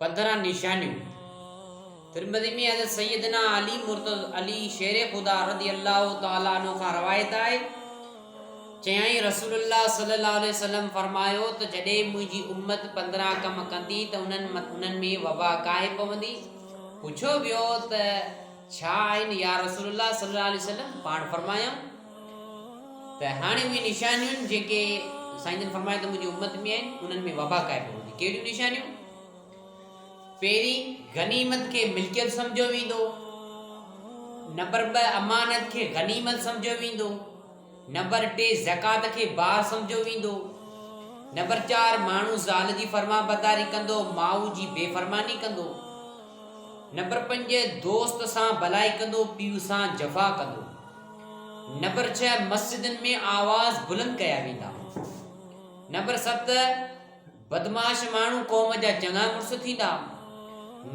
پندرهن نشانيون ترمذي ۾ حضرت سيدنا علي مرتض علي شير خدا رضي الله تعاليٰ عنه کان روايت آهي چيائين رسول الله صلي الله عليه وسلم فرمايو ته جڏهن منهنجي امت پندرهن ڪم ڪندي ته انهن انهن ۾ وبا ڪاهي پوندي پڇيو ويو ته ڇا آهن يا رسول الله صلي الله عليه وسلم پاڻ فرمايائون ته هاڻي اهي نشانيون جيڪي سائين جن فرمايا ته منهنجي امت ۾ آهن انهن ۾ وبا قائم هوندي ڪهڙيون نشانيون پهرين غنيمت کي ملڪيت سمجھيو ويندو نمبر ٻ امانت کي غنيمت سمجھيو ويندو نمبر ٽي زڪات کي بار سمجھيو ويندو نمبر چار ماڻهو زال جي فرما بداري ڪندو ماء جي بي فرماني ڪندو نمبر پنج دوست سان بلائي ڪندو پيء سان جفا ڪندو نمبر ڇهه مسجدن ۾ آواز بلند ڪيا ويندا نمبر ست بدماش ماڻهو قوم جا چڱا مڙس ٿيندا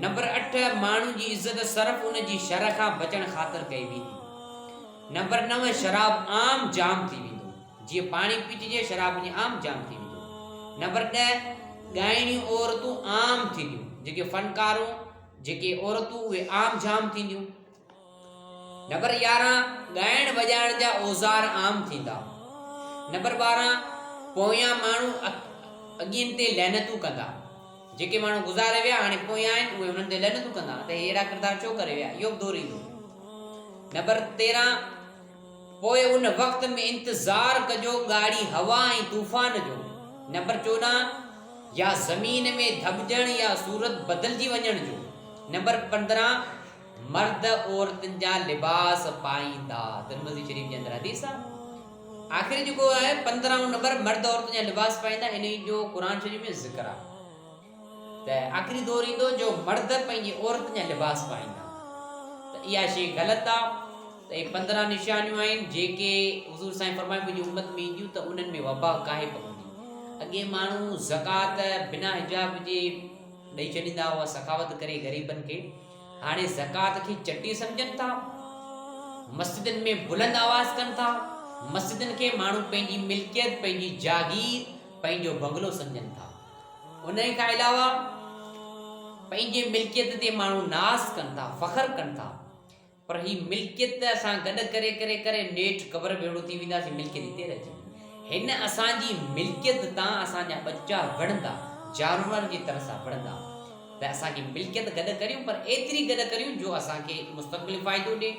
نمبر اٺ ماڻهن جي عزت صرف ان جي شر کان بچڻ خاطر ڪئي ويندي نمبر نو شراب عام جام ٿي ويندو جيئن پاڻي پيچجي شراب جي عام جام ٿي ويندو نمبر ڏهه ڳائڻي عورتون عام ٿينديون جيڪي فنڪارون جيڪي عورتون اهي عام جام ٿينديون نمبر يارهن ڳائڻ وڄائڻ جا اوزار عام ٿيندا. نمبر ٻارهن پويان ماڻهو اڳين تي لعنتون ڪندا. جيڪي ماڻهو گذاري ويا هاڻي پويان آهن اهي انهن تي لعنتون ڪندا ته اهڙا ڪردار ڇو ڪري ويا اهو به دور ايندو. نمبر تيرهن پوء ان وقت ۾ انتظار ڪجو ڳاڙهي هوا ۽ طوفان جو. نمبر چوڏهن يا زمين ۾ ڌٻجڻ يا صورت بدلجي وڃڻ جو. نمبر پندرهن مرد عورتن جا لباس پائيندا ترمذي شريف جي اندر حديث آ آخر جيڪو آهي پندرهون نمبر مرد عورتن جا لباس پائيندا انهي جو قرآن شريف ۾ ذڪر آ ته آخري دور ايندو جو مرد پنهنجي عورتن جا لباس پائيندا ته اها شي غلط آ ته اهي پندرهن نشانيون آهن جيڪي حضور سائين فرمائي منهنجي امت ۾ اينديون ته انهن ۾ وبا ڪاهي پوندي اڳي ماڻهو زڪات بنا حجاب جي ڏئي ڇڏيندا هئا سخاوت ڪري غريبن کي هاڻي زڪوات کي چٽي سمجهن ٿا، مسجدن ۾ بلند آواز ڪن ٿا، مسجدن کي ماڻهو پنهنجي ملڪيت، پنهنجي جاگير، پنهنجو بنگلو سمجهن ٿا. ان کان علاوه پنهنجي ملڪيت تي ماڻهو ناز ڪن ٿا، فخر ڪن ٿا. پر هي ملڪيت اسان گڏ ڪري ڪري ڪري نيٺ قبر به اهڙو ٿي وينداسين ملڪيت هتي رهجي هن اسان جي ملڪيت تان اسان جا ٻچا وڙهندا جانورن جي طرح سان وڙهندا ته اسان جي ملڪيت گڏ ڪريون پر ايتري گڏ ڪريون جو اسان کي مستقبل فائدو ڏي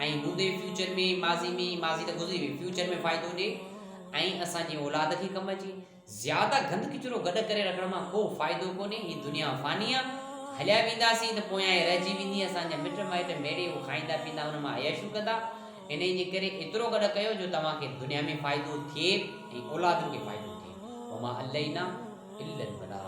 ۽ هوندي فيوچر ۾ ماضي ۾ ماضي ته گذري وئي فيوچر ۾ فائدو ڏي ۽ اسان جي اولاد کي ڪم اچي زياده گند ڪچرو گڏ ڪري رکڻ مان ڪو فائدو ڪونهي هي دنيا فاني آ هليا وينداسين ته پويان ئي رهجي ويندي اسان جا مٽ مائٽ ميڙي هو کائيندا پيندا ان مان عياشيون ڪندا انهي جي ڪري ايترو گڏ ڪيو جو توهان کي دنيا ۾ فائدو ٿئي ۽ اولادن کي فائدو ٿئي وما علينا الا البلاغ